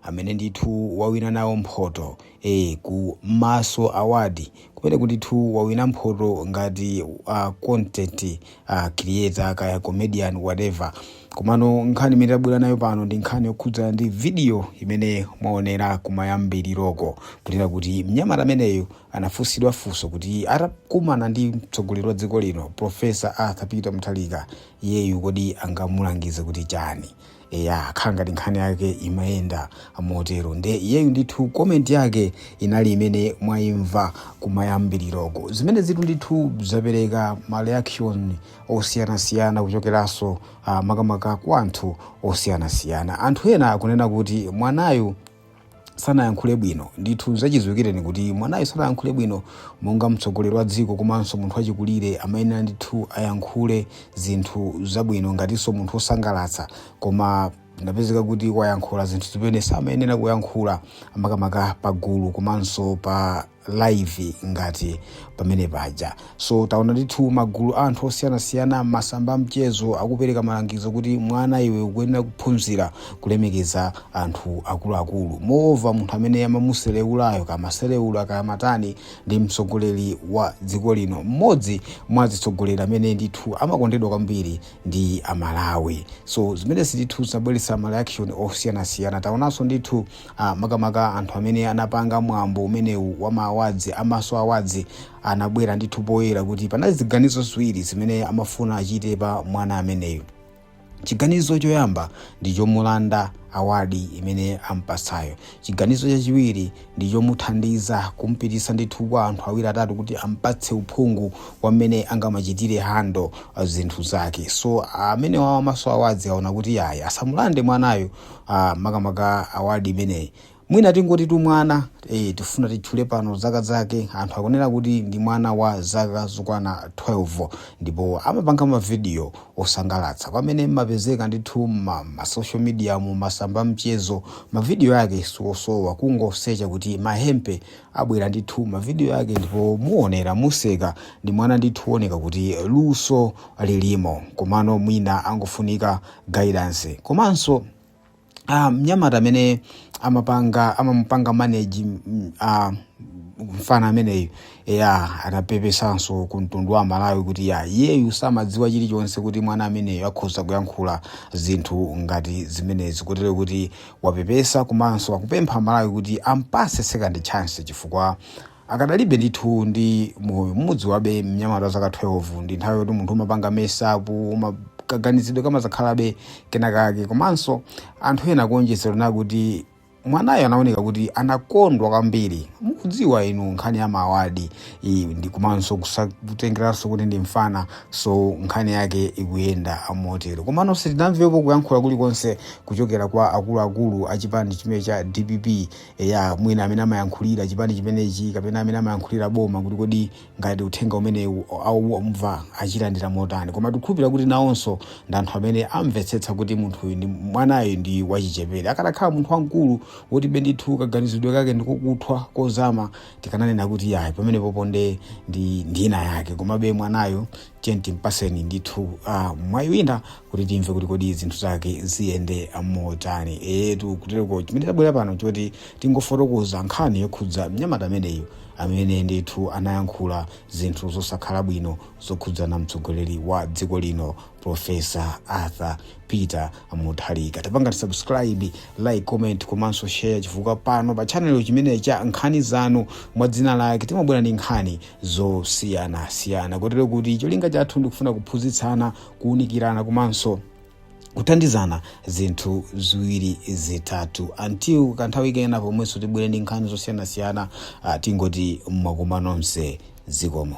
amene ndithu wawina nawo mphoto eh ku maso award kumeneku ndithu wawina mphoto ngati uh, content uh, creator kaya comedian whatever komano nkhani imene tabwera nayo pano ndi nkhani yokhudzana ndi video imene mwaonera kumayambiriroko kunena kuti mnyamata ameneyu anafunsidwa funso kuti atakumana ndi mtsogoleri wa dziko lino profesa arthur peter mutharika iyeyu kodi angamulangize kuti chani eya akhala ngati nkhani yake imayenda motero nde iyeyu ndithu comment yake inali imene mwayimva kumayambiriroko zimene zitu ndithu zapereka ma reaction osiyanasiyana kuchokeranso uh, makamaka kwa anthu osiyanasiyana anthu ena akunena kuti mwanayu sanayankhule bwino ndithu zachidziwikireni kuti mwanayo sanayankhule bwino monga mtsogoleri wa dziko komanso munthu wachikulire amayenera ndithu ayankhule zinthu zabwino ngatinso munthu wosangalatsa koma inapezeka kuti wayankhula zinthu zimene samayenera kuyankhula makamaka pagulu komanso pa live ngati pamene paja so taona ndithu magulu a anthu osiyanasiyana masamba a mchezo akupereka malangizo kuti mwana iwe ukuyenera kuphunzira kulemekeza anthu akuluakulu moreover munthu amene amamusereulayo kamasereula kamatani ndi mtsogoleri wa dziko lino mmodzi mwa atsogoleri amene ndithu amakondedwa kwambiri ndi amalawi so zimenezi ndithu zabweretsa ma reaction osiyanasiyana taonanso ndithu a makamaka anthu amene anapanga mwambo umenewu wa ma awards a maso awards anabwera ndithu poyera kuti panali ziganizo ziwiri zimene amafuna achite pa mwana ameneyu chiganizo choyamba ndi chomulanda award imene ampatsayo chiganizo chachiwiri ndi chomuthandiza kumpititsa ndithu kwa anthu awiri atatu kuti ampatse uphungu wa mmene angamachitire handle uh, zinthu zake so amenewa a maso awards aona kuti ayi asamulande mwanayo ah, makamaka award imeneyi mwina tingoti tu mwana eh, tifuna titchule pano zaka zake anthu akunena kuti ndi mwana wa zaka zokwana 12 ndipo amapanga ma video osangalatsa pamene mmapezeka ndithu ma, ma social media mu masamba a mchezo ma video ake si osowa kungosecha kuti mahempe abwera ndithu ma video ake ndipo muonera museka ndi mwana ndithu oneka kuti luso lilimo komano mwina angofunika guidance komanso ah, mnyamata amene amapanga amamupanga manage mm, ah, mfana ameneyu ya anapepesanso ku mtundu wa malawi kuti ya iyeyu samadziwa chilichonse kuti mwana ameneyu akhoza kuyankhula zinthu ngati zimenezi kotero kuti wapepesa komanso akupempha malawi kuti ampatse second chance chifukwa Akadalibe ndithu ndi moyo mumudziwabe mnyamata wa zaka 12 ndi nthawi yoti munthu umapanga mess up uma kaganizidwe kamadzakhalabe kenakake komanso anthu ena kuonjezera na kuti mwanayo anaoneka kuti anakondwa kwambiri mukudziwa inu nkhani ya mawadi ndi komanso kusa- kutengeranso kuti ndi mfana so nkhani yake ikuyenda motero komano sitinamvepo kuyankhula kulikonse kuchokera kwa akuluakulu a chipani chimene cha dpp eya mwina amene amayankhulira chipani chimenechi kapena amene amayankhulira boma kuti kodi ngati uthenga umenewu aumva achilandira motani koma tikukhulupirira kuti nawonso ndi anthu amene amvetsetsa kuti munthuyu ndi mwanayu ndi wachichepere akadakhala munthu wamkulu woti be ndithu kaganizidwe kake ndikokuthwa kozama tikananena kuti yayi pamenepo ponde ndi ina yake komabe mwanayo tiyeni timpatseni ndithu uh, mwayi wina kuti timve kuti kodi zinthu zake ziyende motani eetu kutereko chimene tabwera pano choti tingofotokoza nkhani yokhudza mnyamata ameneyo amene ndithu anayankhula zinthu zosakhala bwino zokhudzana mtsogoleri wa dziko lino profesa arthur peter mutharika tapangani subscribe like comment komanso share chifukwa pano pa chanelo chimene cha nkhani zanu mwa dzina lake timabwera ndi nkhani zosiyanasiyana kotero kuti cholinga chathu ndikufuna kuphunzitsana kuunikirana komanso kuthandizana zinthu ziwiri zitatu until kanthawi kena pomwenso tibwere ndi nkhani zosiyanasiyana ah, tingoti mwakoma nonse zikomo